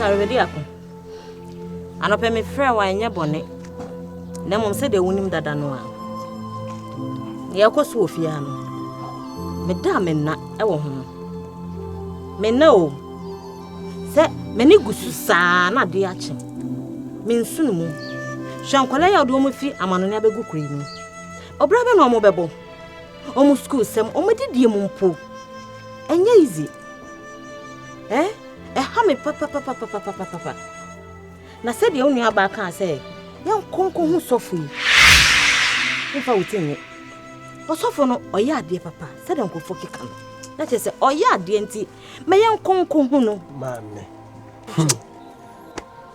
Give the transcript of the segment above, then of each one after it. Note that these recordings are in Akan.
asawebɛdi ako anɔpɛ mefrɛ wo anyɛ bɔne na mmom sɛdeɛ wonim dada no a yɛkɔ so wɔ fie ha no meda a menna wɔ ho menna o sɛ m'ani gu so saa na adeɛ akye mensu no mu hwɛ nkɔla yɛ wode wɔn fi amanone abɛgu kuro yi mu Ɔbra bɛ na ɔmo bɛbɔ? Ɔmo sukuu sɛm, ɔmo adidie mu mpo. Ɛnyɛ easy. Ɛ? Ɛha me papapapapapapapa. Na sɛdeɛ wo nua baa kaa sɛ yɛnkɔ nkɔ ho sɔfo yi, mfa wo ti nyɛ. Ɔsɔfo no ɔyɛ adeɛ papa sɛdeɛ nkurɔfoɔ keka no. Na kyerɛ sɛ ɔyɛ adeɛ nti ma yɛnkɔ nkɔ ho no. Maame. Hmm.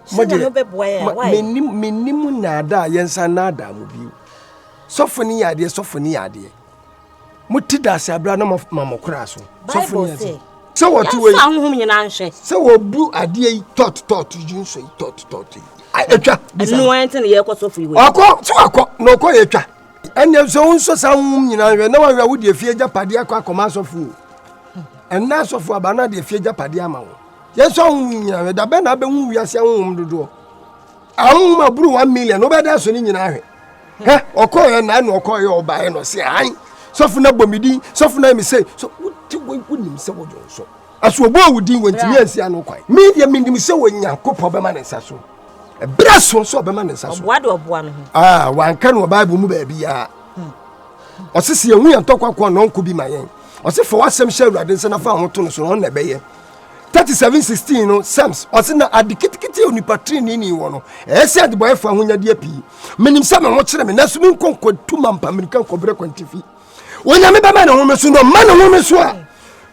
Sɛdeɛ no bɛboa yɛ a, why? Menim nnaadaa, yɛnsa nnaadaa mu bio. Sɔfo no yɛ adeɛ, sɔfo no yɛ adeɛ. Mo ti da ase abira na mo ma mo kora so. Sɔfo no yɛ adeɛ. Sɛ wɔte wɔ yi. Yɛn ahohom nyinaa nhwɛ. Sɛ wɔbu adeɛ yi tɔt tɔt yi nso yi tɔt tɔt yi. Atwa. Ɛnu wɔn ti na yɛ kɔ sɔfo yi wɔ yi. Ɔkɔ so akɔ na ɔkɔ yɛ atwa. Ɛnna nso wɔn nso saa ahohom nyinaa nhwɛ na wɔn ahwɛ awodi efie gya padeɛ akɔ akɔma asɔfo o. Ɛnna asɔfo aba na de efie gya padeɛ ama wɔn. Yɛn nso ahohom nyinaa nhwɛ dabɛ na abɛhu wiase ahohom dodoɔ. Ahoma boro one million wobɛda so ne nyinaa ahwɛ. Hɛ ɔkɔɔyɛ na ɛna ɔkɔɔyɛ ɔbaeɛ na ɔse han sɔfo na bɔ me din sɔfo na me sei so wote wei wonim sɛ wodwo nso ɛso ɔbɔɔ wo din wɔntumi ansi ano kwan medeɛ menim sɛ Onyankopɔn bɛma ne nsa so ɛberɛ so nso ɔbɛma ne nsa so ɔboa de ɔboa no ho ah wanka no wɔ Bible mu baabiara hmm. ɔse sɛ yɛhu yɛn ntɔkwa ko a na ɔnko bi ma yɛn ɔse fa w'asɛm hyɛ awurade nsa na fa ho to no so na ɔnna ɛbɛyɛ 37 16 no sɛms ɔse na ade ketekete a onipa tirinini wɔ no ɛyɛ sɛ adebɔyɛfo ahonyadeɛ pii menim sɛ me ho kyerɛ me nanso menkɔ nkɔtu ma mpa mmirika nkɔbrɛ kwantifi onyame bɛma ne home so na ɔma ne home so a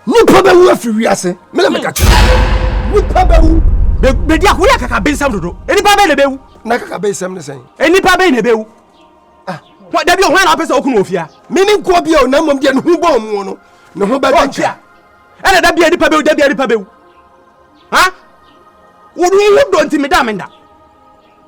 nipa bɛwu afiri wiase mena meka kyerɛ nipa bɛwu bɛdi ako woyɛ kaka bensɛm dodo nipa bɛn na bɛwu na kaka bensɛm ne sɛn nipa bɛn na bɛwu ah. dabi ɔhwan na wopɛ sɛ wokunu wɔ fia mene nkoa bia o na mmom deɛ ne ho bɔ ɔmoɔ no ne ho bɛdɛ ɛna da bia nipa bɛwu da bia nipa bɛwu ha wodu wo dɔ nti meda menda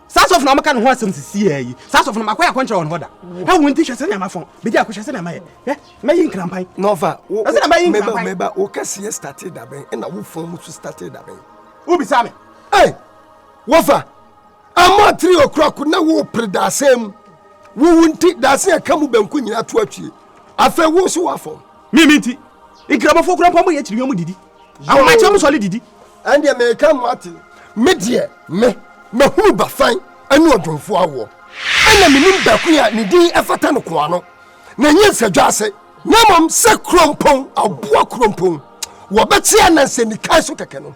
saa sɔfo na ɔmɛka ne ho asɛm sisi yɛ yi saa sɔfo na makɔ yɛ akɔnkyerɛ wɔn hɔ da na wɔn ti hwɛ sɛ nneɛma fɔn bedi akɔ hwɛ sɛ nneɛma yɛ ɛ mɛyi nkrampan nɔfa wo ɛsɛ na mɛyi nkrampan mɛba mɛba wo kɛseɛ starte dabɛn ɛna wo fɔn mu so starte dabɛn wo bisa mi ɛ wɔfa ama tiri okura ko na wo pere daasɛm mu wo wo nti daasɛm ɛka mu bɛnko nyinaa to atwie afɛ wo so wafɔn. Me me nti, Nkramofoɔ koraa mpo ama yɛakyiri yɔn didi. Ahomakyɛ ɔmo sɔre didi. Ɛndeɛ meka mo ate. Me deɛ me, mahunu Bafan ne Odwomfoɔ awoɔ. Ɛna menim Bakun a ne din fata no koano, na ɛnyɛ Nsadwaase. Na mmom sɛ Krompong, Aboa Krompong, wɔbɛkyea Nansa Nikan so kɛkɛ no.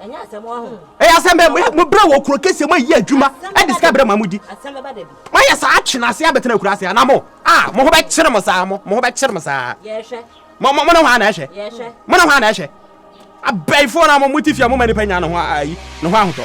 ɛyɛ asɛm bɛ mo brɛ wɔ kuro kɛseɛ mo ayi adwuma ɛde sika brɛ mo a mo di mo ayɛ saa atwe n'ase abɛtena akura ase anaa mo a mo ho bɛkyere mo saa mo mo ho bɛkyere mo saa mo mo ne hɔ a na ɛhwɛ mo ne hɔ a na ɛhwɛ abɛɛfoɔ no a mo mo ti fia mo ma nipa nya ne ho ayi ne ho ahotɔ